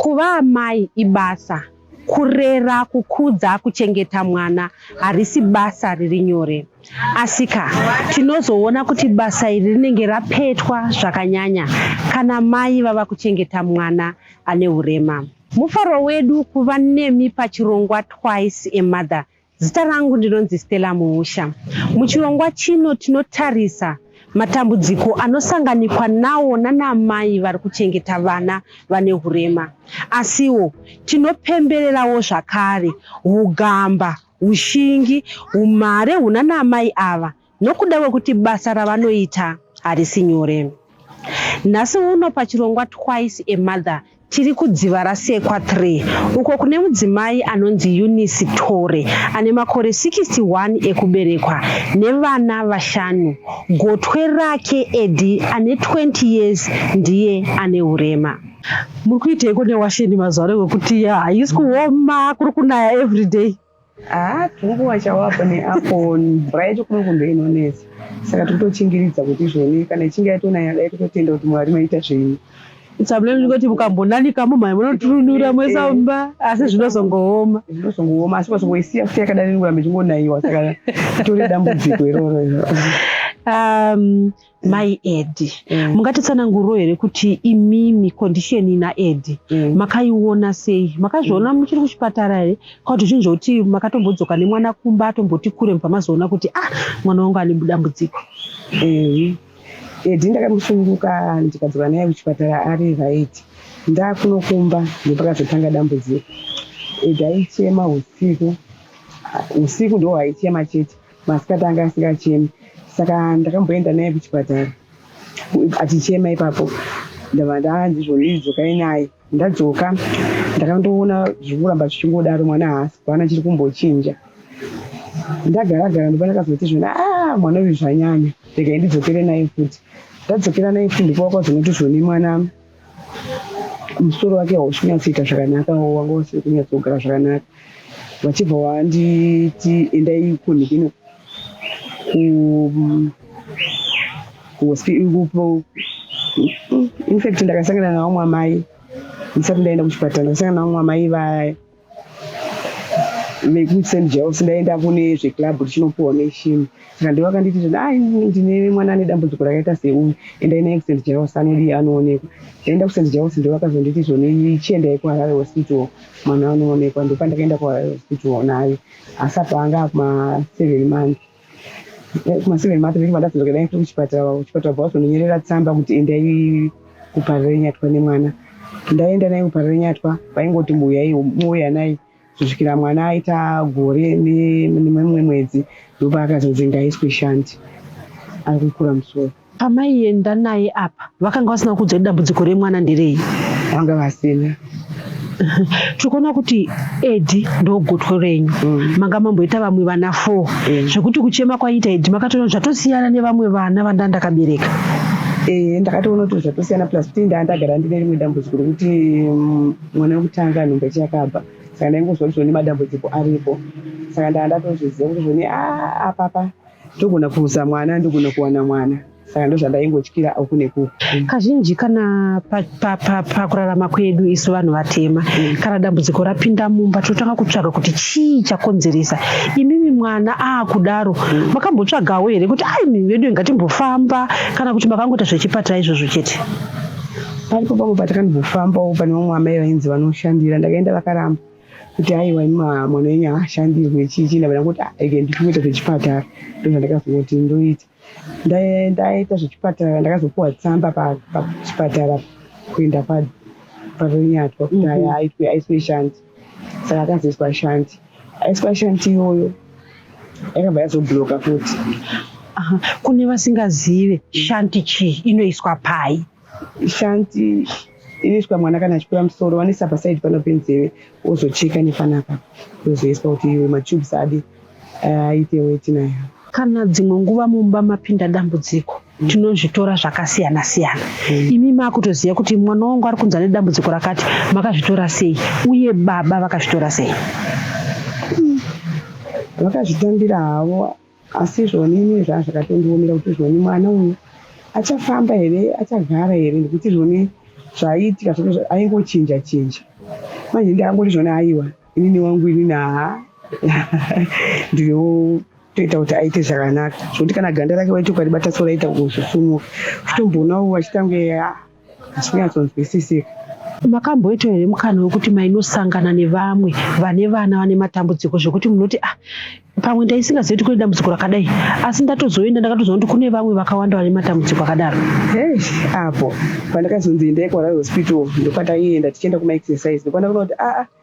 Kuva amai ibasa. Kurera, kukudza, kuchengeta mwana harisi basa riri nyore. Asika, tinozoona kuti basa iri rinenge rapetwa zvakanyanya kana mai vava kuchengeta mwana ane urema. Mufaro wedu kuva nemi pachirongwa Twice a Mother Zita rangu ndinonzi Stella Muhusha. Muchirongwa chino tinotarisa matambudziko anosanganikwa nawo nanamai vari kuchengeta vana vane hurema asiwo tinopembererawo zvakare ugamba ushingi umhare hunanamai ava nokuda kwekuti basa ravanoita harisi nyore. Nhasi uno pachirongwa Twice a Mother tiri kudziva rasekwa 3 uko kune mudzimai anonzi Eunice Tore ane makore 61 ekuberekwa nevana vashanu. Gotwe rake Edi ane 20 years ndiye ane urema. Muri kuiteiko newasheni mazuva ano wekuti haisi kuoma kuri kunaya everyday? Haa tunguva chawapa neapo mvura yacho kuno kumbe inonetsa saka tikutochingiridza kuti izvoni kana ichinge yatonaya dai kutotenda kuti mwari maita zvenyu sabule ndingoti mukambonanika mumhai munotununura mwesamba asi zvinozongooma zvinozongooma asi kwazongoisiya futi yakadai ndingoramba ichingonaiwa saka itori dambudziko iroro um, Mm. mai edi mm. mungatitsananguriro here kuti imimi condition ina edi mm. makaiona sei makazviona mm. muchiri kuchipatara here kauti zvinhu zvokuti makatombodzoka nemwana kumba atomboti kure mubva mazoona kuti ah mwana wangu ane budambudziko mm. edi ndakamusunguka ndikadzoka naye kuchipatara ari right ndakunokumba ndopakazotanga dambudziko edi aichema usiku usiku ndo aichema chete Masikati anga asingachemi saka ndakamboenda naye kuchipatara achichema ipapo ndava ndaandizvo ndidzokai naye ndadzoka ndakandoona zvikuramba zvichingodaro mwana haasi kwana chiri kumbochinja ndagara gara ndopa ndakazoti zvona a ah, mwana uyu zvanyanya regai ndidzokere naye futi ndadzokera naye futi ndipo wakazonoti zvoni mwana musoro wake hausi kunyatsoita zvakanaka wanga usiri kunyatsogara zvakanaka vachibva wanditi endai kunhu kuno infact ndakasangana navamwe amai ndisati ndaenda kuchipatara ndakasangana navamwe amai vaya like with St. Joe's ndaenda kune zveclub richinopuwa neshimi saka ndivo vakanditi zvoti ai ndine mwana ane dambudziko rakaita seuyu endai naye kuSt. Joe's anodiya anoonekwa ndaenda kuSt. Joe's ndivo vakazonditi zvoni chiendai kuHarare hospital mwana anoonekwa ndopandakaenda kuHarare hospital naye asi apa anga akuma seven months Eh, kumashure emato viri vadadzirwa dai tiri kuchipatara kuchipatara bva wazononyerera tsamba kuti endai kuparenyatwa nemwana ndaenda naye kuparenyatwa vaingoti muyai muuya naye kusvikira mwana aita gore nemumwe mwedzi ndopaakazonzi ngaiswe shanti ari kukura musoro Pamaienda naye apa vakanga vasina kuudza kuti dambudziko remwana nderei? Vanga vasina tiri kuona kuti edi ndogotwe renyu mm. manga mamboita vamwe vana four mm. zvekuti kuchema kwaiita edi makatoona zvatosiyana nevamwe vana vanda ndakabereka eh, ndakatoona kuti zvatosiyana plus kuti ndaa ndagara ndine rimwe dambudziko rekuti mm, mwana wekutanga nhumba chiyakabva saka ndaingozwa kuti zvone madambudziko aripo saka ndaa ndatozviziva kuti zvone ah, apapa ndogona kuruza mwana ndogona kuwana mwana saka ndozvandaingotyira uku nekuku mm. kazhinji kana pakurarama kwedu isu vanhu vatema mm. kana dambudziko rapinda mumba tinotanga kutsvaga kuti chii chakonzeresa imimi mwana aakudaro mm. makambotsvagawo here kuti ai mimi vedu ingatimbofamba kana kuti makangoita zvechipatara izvozvo chete paripo pamwe patakambofambawo pane vamwe amai vainzi vanoshandira ndakaenda vakaramba kuti aiwa ima mwana wenyu haashandirwe chii chii ndavana kuti ike ndikuita zvechipatara ndozvandakazongoti ndoita ndaita zvechipatara ndakazopuwa tsamba pachipatara kuenda paronyatwa kuti aya mhm. aitwe aiswe shanti saka akazoiswa shanti aiswa shanti iyoyo yakabva yazobloka futi kune vasingazive shanti chii inoiswa pai Shanty inoiswa mwana kana achikwira musoro vanoisa pasaidi pano penzeve wozocheka nepanapa wozoiswa kuti iwe matubes adi eh, aite weti nayo kana dzimwe nguva mumba mapinda dambudziko mm. tinozvitora zvakasiyana siyana mm. imi makutoziva kuti mwana wangu ari kunzi ane dambudziko rakati makazvitora sei uye baba vakazvitora sei mm. vakazvitambira havo Asi zvoni ini zvaa zvakatondiomera kuti zvoni mwana uyu achafamba here achagara here nekuti zvoni zvaiitika zvake aingochinja chinja manje ndakangoti zvoni aiwa inini wangu inini haa ndino toita kuti aite zvakanaka zvokuti kana ganda rake waiti ukaribata so raita kuzosumuka uchitomboonawo achitange hazvinyatsonzwisisika makamboita here mukana wekuti mainosangana nevamwe vane vana vane matambudziko zvekuti munoti ah pamwe ndaisingazivi kuti kune dambudziko rakadai asi ndatozoenda ndakatoziva kuti kune vamwe vakawanda vane matambudziko akadaro apo pandakazonzi endai kuara hospital ndopataienda tichienda kumaexercise ndokwana kuona kuti aa ah, ah,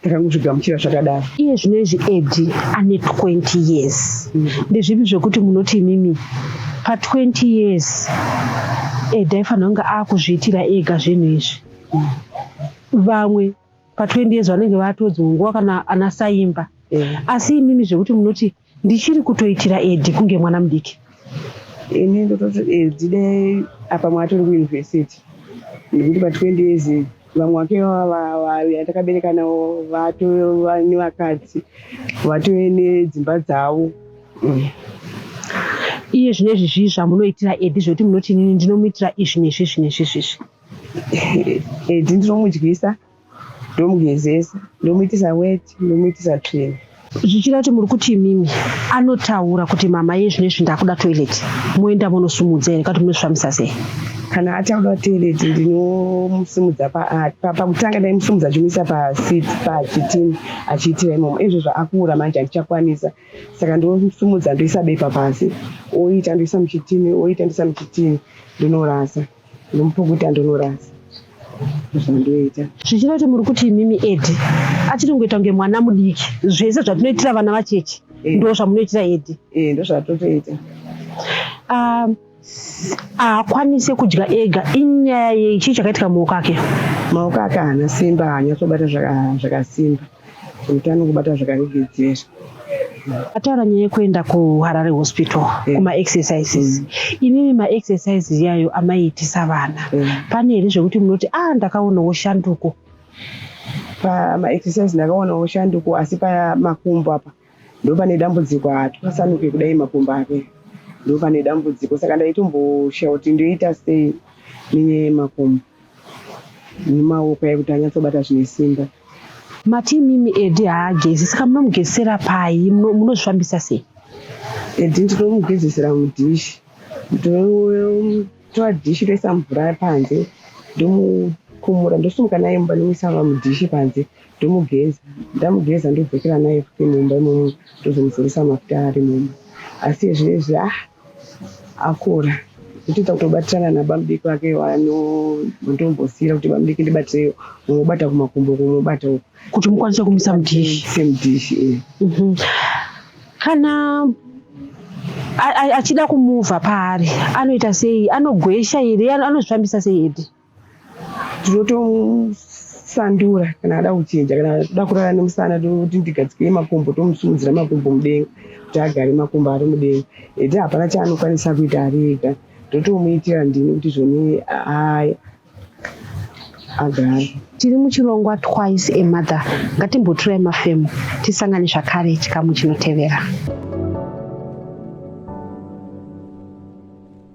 ndakangozvigamuchira zvakadaro iye zvino izvi edi ane 20 years mm. ndezvipi zvekuti munoti imimi pa20 years edi aifanira kunge akuzviitira ega zvinhu izvi mm. vamwe pa20 years vanenge vatodzongwa kana ana saimba mm. asi imimi zvekuti munoti mm. Ndichiri kutoitira Edi kunge mwana mudiki. Ini ndototi Edi dai apa mwatiri kuuniversity nekuti pa 20 years vamwe vake yatakabereka navo vatova nevakadzi vatove nedzimba dzavo mm. iye zvine izvi zvii zvamunoitira edi zvekuti munoti inini ndinomuitira izvi nezvi izvi nezvi izvi izvi edi ndinomudyisa ndomugezesa ndomuitisa weti ndomuitisa tsvina zvichida kuti muri kuti imimi anotaura kuti mama ye zvino izvi ndakuda toilet moenda monosumudza here kati munosvamisa sei kana ataura toilet ndinomusimudza pakutanga ndaimusimudza chimuisa pasit pachitini achiitira imomo izvo zvaakuura manje andichakwanisa saka ndomusumudza ndoisa bepa pasi oita ndoisa muchitini oita ndoisa muchitini ndinorasa Nomupukuta ndonorasa zvandoita. Zvichida kuti muri kuti imimi Edi achiri kungoita kunge mwana mudiki. Zvese zvatinoitira vana vacheche eh. ndo zvamunoitira Edi. Eh, ndo zvatotoita. Ah, haakwanise kudya ega inyaya yei chii chakaitika maoko ake maoko ake haana simba haanyatsobata zvakasimba Utano kubata zvakarigedzera. Ataura nyaya yekuenda kuHarare Hospital yeah. kuma exercises mm. imimi ma exercises yayo amaiitisa vana yeah. pane here zvekuti munoti ah ndakaonawo shanduko pama exercise ndakaonawo shanduko asi pamakumbo apa ndopane dambudziko hatwasanuke kudai makumbo ake ndopane dambudziko saka ndaitomboshawa kuti ndoita sei nenyaya yemakumbo nemaoko yekuti anyatsobata zvine simba mati imimi edi haagezi saka munomugezisira pai munozvifambisa sei edi ndinomugezesera mudhishi ndotora dhishi toisa mvura panze ndomukumura ndosumuka naye mumba nomuisa mudhishi panze ndomugeza ndamugeza ndodzokera naye futi mumba imomo ndozomuzoresa mafuta ari mumba asi ezvinezvi ah akura kutoita kutobatirana nabamudiki vake vanotombosiyira kuti bamudiki ndibatireyo unobata kumakumbo kunobata uku kuti mukwanise kumisa mudhishi semudhishi e mhm. kana achida kumuvha paari anoita sei anogwesha here anozvifambisa sei hedi tinotomusandura kana ada kuchinja kana toda kurara nemusana toti ndigadzike makumbo tomusimudzira makumbo mudenga kuti agare makumbo ari mudenga ete hapana chaanokwanisa kuita ari ega ndotomuitira ndini kuti zvoni aya agare tiri muchirongwa twice a mother ngatimboturai mafemo tisangane zvakare chikamu chinotevera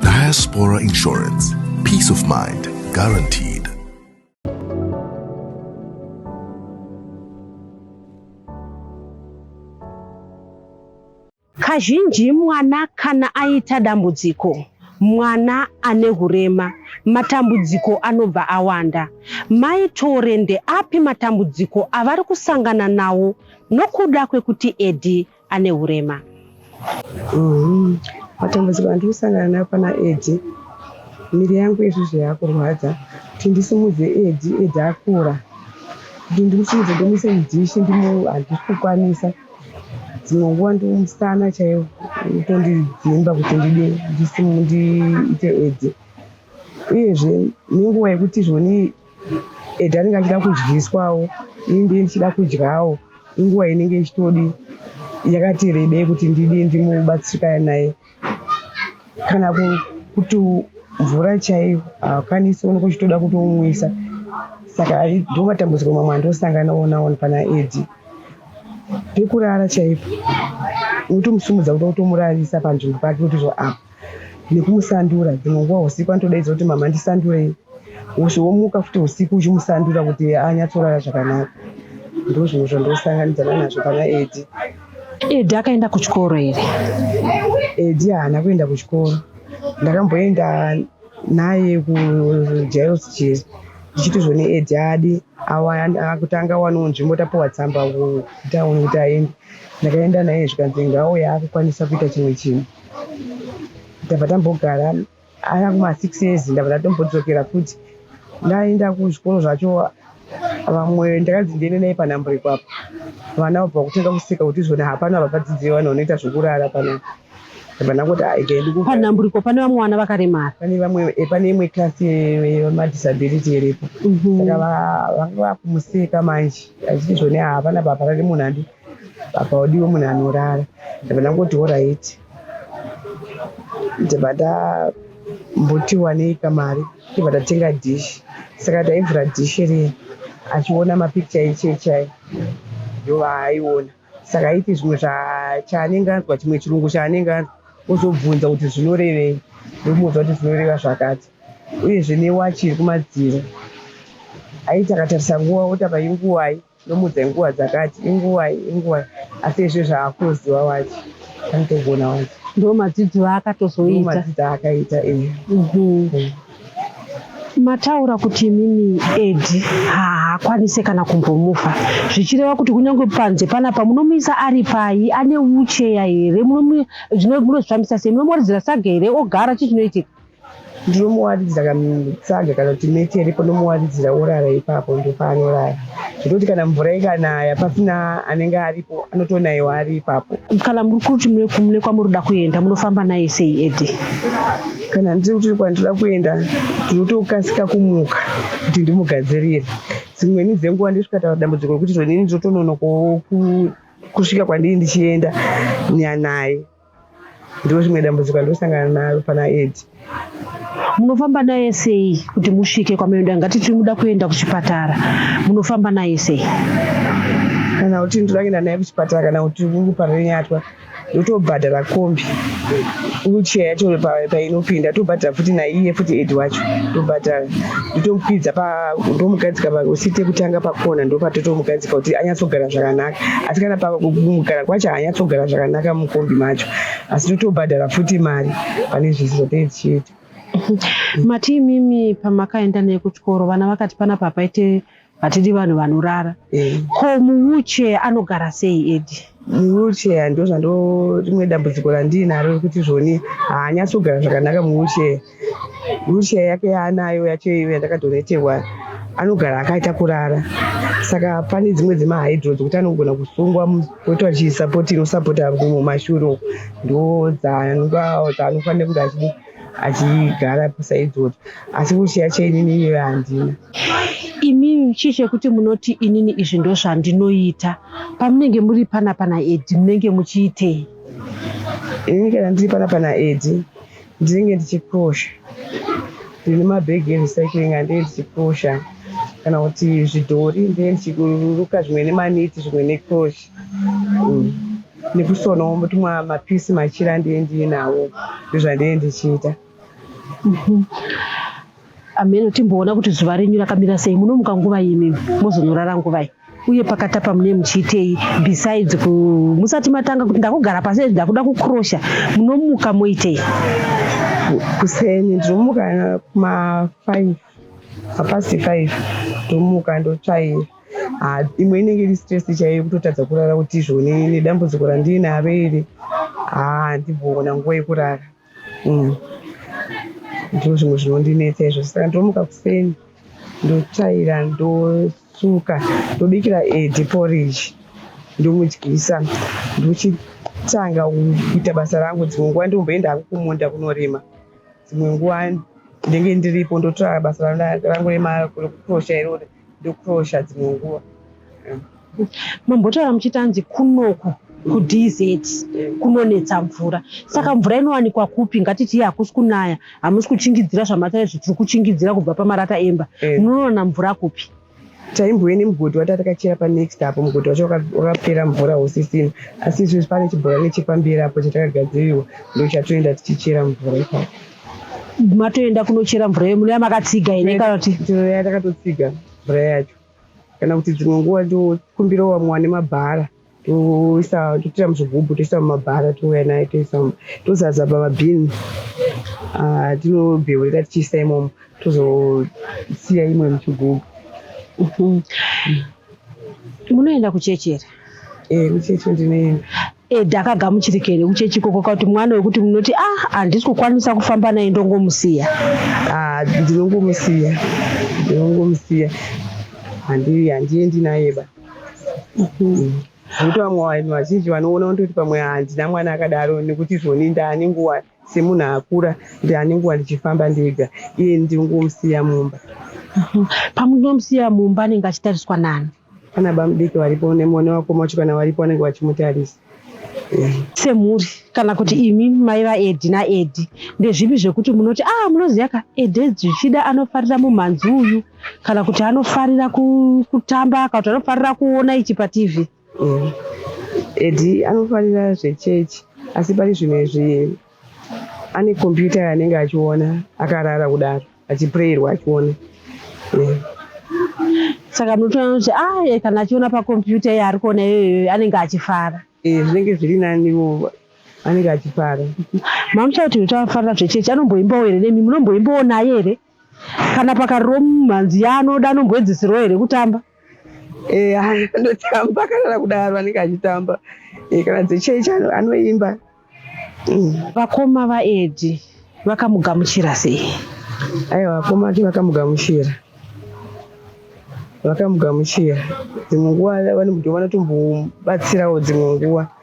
Diaspora Insurance. Peace of mind guaranteed. Kazhinji mwana kana aita dambudziko mwana ane hurema matambudziko anobva awanda. Mai Tore ndeapi matambudziko avari kusangana nawo nokuda kwekuti Edi ane hurema? Mm-hmm. Matambudziko andiri kusangana nawo pana Edi, miri yangu izvozvo yakurwadza kuti ndisimudze Edi, Edi akura kuti ndikusimudze ndimuise mudhishi ndimu handikukwanisa dzimwe nguva ndiwo musana chaiwo utondinhimba kuti ndide ndiite edze uyezve nenguva yekuti zvoni ede anenge achida kudyiswawo ini ndiye ndichida kudyawo inguva inenge ichitodi yakati rebei kuti ndidi ndimubatsirikane naye kana kuti mvura chaiyo haakwanisi unenge uchitoda kutomwisa saka ndo matambudziko mamwe andosangana onaona pana edi pekurara chaipo unotomusumudza kuda kutomurarisa panzvimbo pake kuti zvo apa nekumusandura dzimwe nguva usiku anotodaidza kuti mama ndisandurei womuka futi usiku uchimusandura kuti anyatsorara zvakanaka ndozvinhu zvandosanganidzana nazvo pana edi Edi akaenda kuchikoro here? Edi haana kuenda kuchikoro. Ndakamboenda naye kujairos chiri ndichiti zvone edi adi akutanga waniwo nzvimbo tapiwa tsamba kutauni kuti aende ndakaenda naye zvikanzi ngaauya akukwanisa kuita chimwe chinhu tabva tambogara aya kuma six years ndabva ndatombodzokera futi ndaenda kuzvikoro zvacho vamwe ndakanzi ndiende naye panhambo ipapo vana vabva kutanga kuseka kuti izvona hapana vabvadzidzei vanhu vanoita zvekurara panapa panhamburiko pane vamwe vana vakaremara eh, pane imwe klasi yemadisability iripo mhm. saka vanga vakumuseka manje achiti zvone havana baba rari munhu andi baba wadiwe munhu anorara ndabva ndangoti horaiti ndibva ndambuti waneika mari ndibva ndatenga dish saka ndaivhura dish riye achiona mapikicha echechai ndova aiona saka aiti zvimwe chaanenge anzwa chimwe chirungu chaanenge anzwa ozobvunza kuti zvinorevei ndomuudza kuti zvinoreva zvakati uyezve newachi iri kumadziro aiti akatarisa nguva oti apa inguvai Ndomuudza nguva dzakati inguvai inguvai asi izvo zvaakuziva wacho anotogona wacho. Ndo madzidzo aakatozoita. Ndo madzidzo aakaita iye. Mm -hmm. Mataura kuti imimi Edi haakwanise kana kumbomufa zvichireva kuti kunyange panze panapa munomuisa ari pai ane ucheya here zvino munozvifambisa sei munomoridzira sage here ogara chii chinoitika ndinomuwaridzira kanungu tsaga kana kuti meti yaripo ndomuwaridzira orara ipapo ndopaanorara zvekuti kana mvura ikanaya pasina anenge aripo anotonaiwa ari ipapo kana muri kuti mune kwamuri kuda kuenda munofamba naye sei edi kana ndiri kuti kwandinoda kuenda ndinotokasika kumuka kuti ndimugadzirire dzimweni dzenguva ndisvika taura dambudziko rekuti zvonini ndinotononokowo kusvika kwandiri ndichienda nyanaye Ndozvimwe dambudziko andosangana naro pana Ed. Munofamba naye sei kuti musvike kwamenoda ngati tiri muda kuenda kuchipatara munofamba naye sei? Kana kuti ndinoenda naye kuchipatara kana kuti uri parenyatwa ndotobhadhara kombi wheelchair yacho painopinda tobhadhara futi naiye futi ed wacho tobhadhara ndotomupidza ndomugadzika usite kutanga pakona ndopatotomugadzika kuti anyatsogara zvakanaka asi kana pava kugara kwacho hanyatsogara zvakanaka mukombi macho asi totobhadhara futi mari pane zvese zvatee tichiita mati imimi pamakaenda naye kuchikoro vana vakati pana papaite hatidi vanhu vanorara eh. ko muwheelchair anogara sei edi muwheelchair ndozvando rimwe dambudziko randiinaro rekuti zvoni haanyatsogara zvakanaka muwheelchair Lucia yake yaanayo yacho iyo yandakadoneterwa anogara akaita kurara saka pane dzimwe dzemahydro dzekuti anogona kusungwa poto achisapoti inosapota mumashuro ndo dzaanofanira kunge achidi achigara pisa idzodzo asi kuchiya cheinini iyoyo handina imimi chii chekuti munoti inini izvi ndo zvandinoita pamunenge muri pana pana edi munenge muchiitei ini kana ndiri pana pana edi ndinenge ndichipusha ndine mabhegi erecycling andee ndichipusha kana kuti zvidhori ndee ndichiruka zvimwe nemaniti zvimwe necrosh mm. nekusonawo tumwa mapisi machira ndee ndiinawo ndozvandee ndichiita mhm. ameno timboona kuti zuva renyu rakamira sei munomuka nguva yimimi mozonorara nguvai uye pakatapa mune muchiitei besides ku musati matanga kuti ndakugara pasi ezvi ndakuda kukrosha munomuka moitei kuseni ndinomuka mafive mapasi five ndomuka ndotsvaira ah, imwe inenge iri stress chaiyo kutotadza kurara kuti izvone nedambudziko randiinaro iri ah, handibhoona nguva yekurara mm. ndizvo zvimwe zvinondinetsa izvo saka ndomuka kuseni ndotsvaira ndosuka ndobikira edi poriji ndomudyisa ndochitanga kuita basa rangu dzimwe nguva ndomboenda hangu kumunda kunorima dzimwe nguva ndenge ndiripo ndotora basa rangu rekukrosha irori ndokuroosha dzimwe nguva mambotaura muchiti anzi kunoku kudz kunonetsa mvura saka mvura inowanikwa kupi ngatiti iye hakusi kunaya hamusi kuchingidzira zvamatare zvitiri kuchingidzira kubva pamarata emba eh. munoona mvura kupi taimbouya nemugodhi watatakachera panext apo mugodhi wacho wakapera mvura usisina asi izvezvi pane chibhorani chepamberi apo chatakagadzirirwa ndochatoenda tichichera mvura ipapo matoenda kunochera mvura yemuno yamakatsiga here kana kuti ya takatotsiga mvura yacho kana kuti dzimwe nguva tokumbirawo vamwe vane mabhara toisa totoita muzvigubhu toisa mumabhara touya naye toisa tozaza pamabhini ah, tinobheurira tichiisa imomo tozosiya imwe muchigubhu mhm. munoenda kuchechi here ee eh, kuchechi ndinoenda Ed akagamuchirika here kuchechi ikoko kuti mwana wekuti munoti ah handisi kukwanisa kufamba naye ndongomusiya ah, ndinongomusiya ndinongomusiya handiendi naye ba mhm. nekuti vamwe vanhu vazhinji vanoona kuti pamwe handina mwana akadaro nekuti zvoni ndani nguva Semunhu akura ndiane nguva ndichifamba ndega iye ndingomusiya mumba. Pamunomusiya mumba anenge achitariswa nani? Pana bamudiki varipo nemone wako machikana varipo vanenge vachimutarisa. Semhuri kana kuti imi mai vaEdi naEdi ndezvipi zvekuti munoti ah munoziva ka Edi zvichida anofarira mumhanzi uyu kana kuti anofarira kutamba kana kuti anofarira kuona ichi paTV? Mm. Edi anofarira zvechechi asi pari zvimwe zvi ane kompyuta yaanenge achiona akarara kudaro achiprayirwa achiona yeah. saka munotoona kuti aye ah, kana achiona pakompyuta iye ari kuona iyoyo anenge achifara eh, zvinenge zviri nanivo anenge achifara mamucha kuti uchafarira zvechechi anomboimbawo here nemi munomboimbawo naye here Kana pakariro mhanzi yaanoda anomboedzeserawo here kutamba? Eh, anotamba kana kudaro anenge achitamba. Eh, kana dzechechi anoimba. Mm. Vakoma vaEdi vakamugamuchira sei? Aiwa, vakoma vake vakamugamuchira vakamugamuchira dzimwe nguva vanotombobatsirawo dzimwe nguva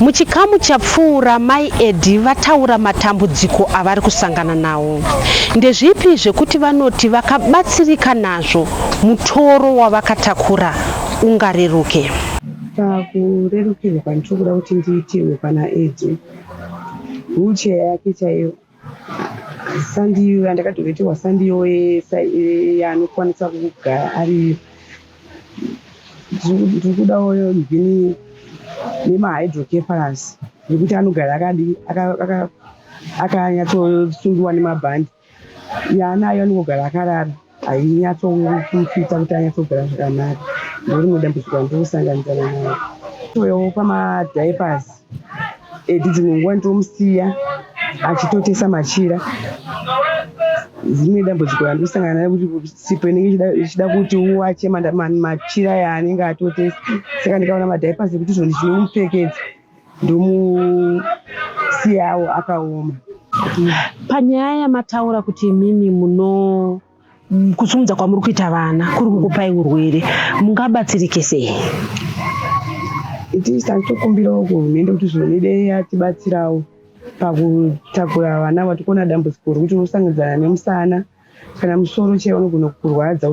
Muchikamu chapfuura, Mai Eddy vataura matambudziko avari kusangana nawo. Ndezvipi zvekuti vanoti vakabatsirika nazvo mutoro wavakatakura ungareruke? Pakurerukirwa kwandiri kuda kuti ndiitirwe pana Eddy, wheelchair yake chaiyo Sandiyo yandakadhoveterwa sandiyo yaanokwanisa kugara ari ndiri kudawo mhini nemahydrocephalus nekuti anogara akadi akanyatsosungiwa nemabhandi yaanayo anongogara akarara hainyatsomufita kuti anyatsogara zvakanaka ndorimwe dambudziko randinosanganidzana nayo toyawo pamadiapers edi dzimwe nguva nditomusiya achitotesa machira dzimwe dambudziko randosangana nayo kuti sipo inenge ichida kuti uwache machira yaanenge atotesa saka ndikaona madiapers ekuti zvoni zvinomupfekedza ndomusiyawo akaoma panyaya yamataura kuti imimi muno kusumudza kwamuri kuita vana kuri kukupai urwere mungabatsirike sei itis tatokumbirawo kuhurumende kuti zvinode yatibatsirawo pakutakura vana vatikona dambudziko rokuti unosangidzana nemusana kana musoro chee unogona kukurwadza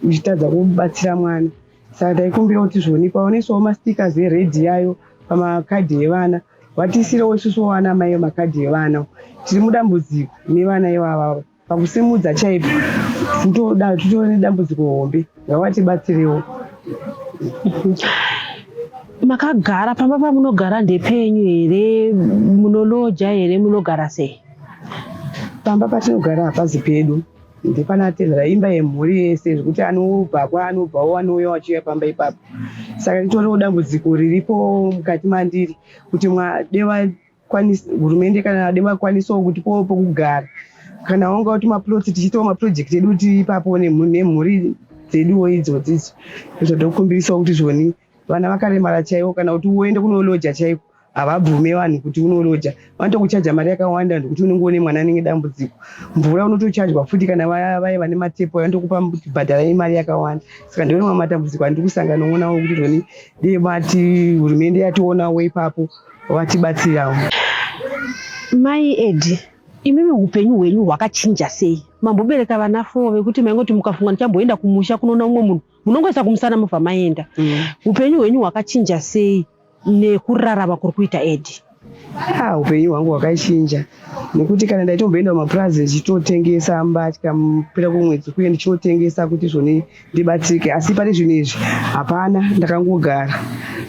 uchitadza kubatsira mwana Saka ndaikumbira kuti zvoni paonesawo mastickers ered yayo pamakadhi evana vatiisirewo isusu vana mai makadhi evana tiri mudambudziko nevana ivavava pakusimudza chaipo tinotoda titove nedambudziko hombe ngavatibatsirewo makagara pamba pamunogara ndepenyu here munoloja here munogara sei pamba patinogara hapazi pedu ndipana atendera imba yemhuri yese zvekuti anobva kwaanobvawo anouya wachiuya pamba ipapo saka nditoriwo dambudziko riripo mukati mandiri kuti mwadeva hurumende kana adeva kwanisawo kuti powo pokugara kana wanga kuti maploti tichiitawo maprojekti edu kuti ipapo nemhuri dzeduwo idzodzidzo zvodokumbirisawo kuti zvoni vana vakaremara chaivo kana kuti uende kunoloja chaiko havabvume vanhu kuti unoloja vanotokuchaja mari yakawanda ndokuti unenge une mwana anenge dambudziko mvura unotochajwa futi kana vaye vane matepo vanotokupa bhadhara imari yakawanda saka ndione mamwe matambudziko andiri kusangana onawo kuti zvoni dei vati hurumende yationawo ipapo vatibatsirawo mai edi imimi upenyu hwenyu hwakachinja sei mambobereka vana foo vekuti maingoti mukafunga ndichamboenda kumusha kunoona umwe munhu munongoisa kumusana mobva maenda mm. upenyu hwenyu hwakachinja sei nekurarama kuri kuita edi ah, upenyu hwangu hwakachinja nekuti kana ndaitomboenda kumapurazi ndichitotengesa mbatya pera kwemwedzi kuye ndichitotengesa kuti zvoni ndibatsirike asi pane zvinhu izvi hapana ndakangogara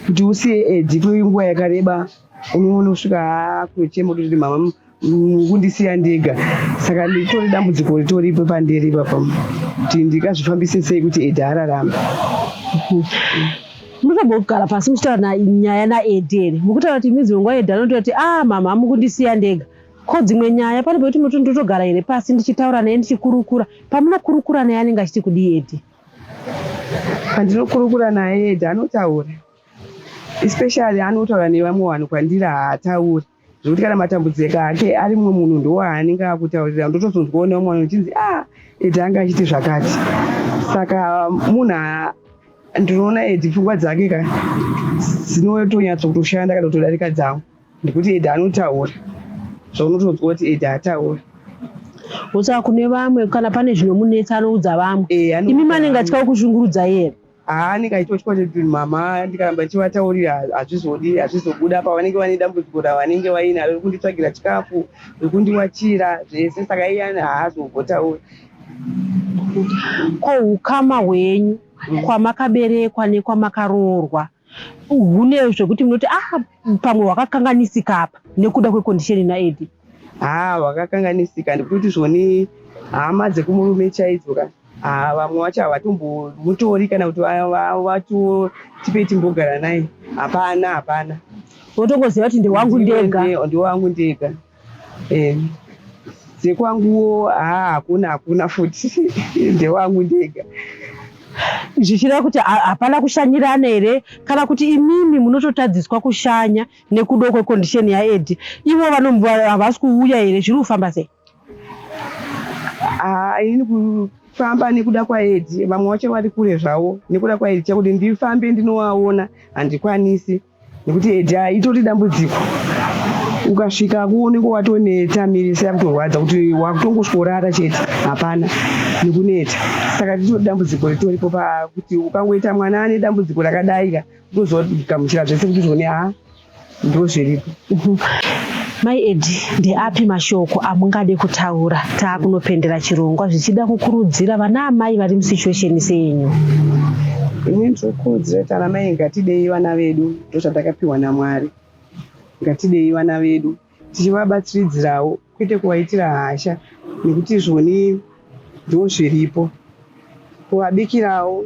kuti usiye edi kwenguva yakareba unoona kusvika akuchema kuti mama kundisiya ndega saka nditori dambudziko ritoripo pandiri ipapa kuti ndikazvifambise sei kuti edi ararama munotobo kugara pasi muchitaura nyaya naedi ere mukutaura kuti midzi wenguva edi anotoa kuti a ah, mama amukundisiya ndega ko dzimwe nyaya pane pekuti muti ndotogara here pasi ndichitaura naye ndichikurukura pamunokurukura naye anenge achiti kudii edi pandinokurukura naye edi anotaura especially anotaura nevamwe vanhu kwandiri haatauri zvekuti kana matambudziko ake ari mumwe munhu ndowaanenge akutaurira ndotozonzwa one umwe uchinzi a ah, edi anga achiti zvakati saka munhu ndinoona edi pfungwa dzake ka dzinotonyatso kutoshanda kana kutodarika dzangu ndekuti edi anotaura zvaunotozwa kuti edi ataura osaka kune vamwe kana pane zvinomunetsa anoudza vamwe eh, imi manenge achitya kuzvungurudza here Haa ndikaitwa chikwata chedunhu mama ndikaramba ndichivataurira hazvizodi hazvizobuda apa vanenge vane dambudziko ravanenge vainaro rekunditsvagira chikafu rekundiwachira zvese saka iyani haazombotauri ko ukama hwenyu mm. kwamakaberekwa nekwamakaroorwa hune zvekuti munoti ah pamwe hwakakanganisika apa nekuda kwekondisheni naedi haa hwakakanganisika ndikuti zvoni hama dzekumurume chaidzo ka Ah, vamwe vacho havatombomutori kana kuti vato tipei timbogara naye hapana hapana wotongoziva kuti ndewangu ndega ndewangu ndega eh, dzekwanguwo haa ah, hakuna hakuna futi ndewangu ndega zvichireva kuti hapana kushanyirana here kana kuti imimi munototadziswa kushanya nekuda kwekondisheni yaedi ivo havasi kuuya here zviri kufamba sei Ah, ini kufamba nekuda kwaedi vamwe vacho vari kure zvavo nekuda kwaedi chakuti ndifambe ndinovaona handikwanisi nekuti edi ah, itori dambudziko ukasvika kuoneko watoneta mirisa yakutorwadza kuti wakutongosvorara chete hapana nekuneta saka titori dambudziko ritoripo pakuti ukangoita mwana ane dambudziko rakadaika utozogamuchira zvese kuti zvone ha ah, ndozviripo Mai Edi, ndeapi mashoko amungade kutaura taakunopendera chirongwa zvichida kukurudzira vana amai vari musituation senyu? Ini ndinokurudzira kuti ana mai ngatidei vana vedu, ndozvatakapiwa naMwari. Ngatidei vana vedu tichivabatsiridzirawo kwete kuvaitira hasha nekuti izvoni ndo zviripo, kuvabikirawo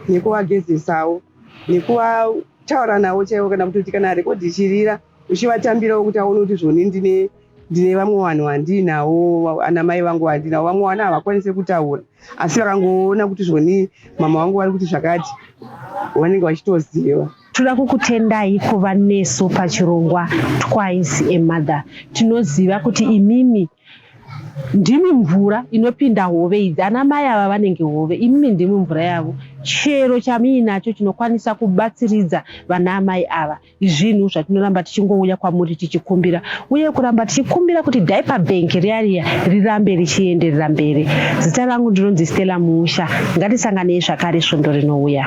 nekuvagezesawo nekuvataura navo chaivo kana kutoti kana rekodhi ichirira uchivatambirawo kuti aone kuti izvoni ndine ndine vamwe vanhu vandiinawo ana mai vangu vandiinawo vamwe vana havakwanise kutaura asi vakangoona kuti zvoni mama vangu vari kuti zvakati vanenge vachitoziva Toda kukutendai kuva nesu pachirongwa Twice a Mother. Tinoziva kuti imimi ndimi mvura inopinda hove idzi. Ana mai ava vanenge hove, imimi ndimi mvura yavo. Chero chamiinacho chinokwanisa kubatsiridza vana amai ava. Izvinhu zvatinoramba tichingouya kwamuri tichikumbira uye kuramba tichikumbira kuti Diaper Bank riya riya rirambe richienderera mberi. Zita rangu ndinonzi Stella Muusha. Ngatisanganei zvakare svondo rinouya.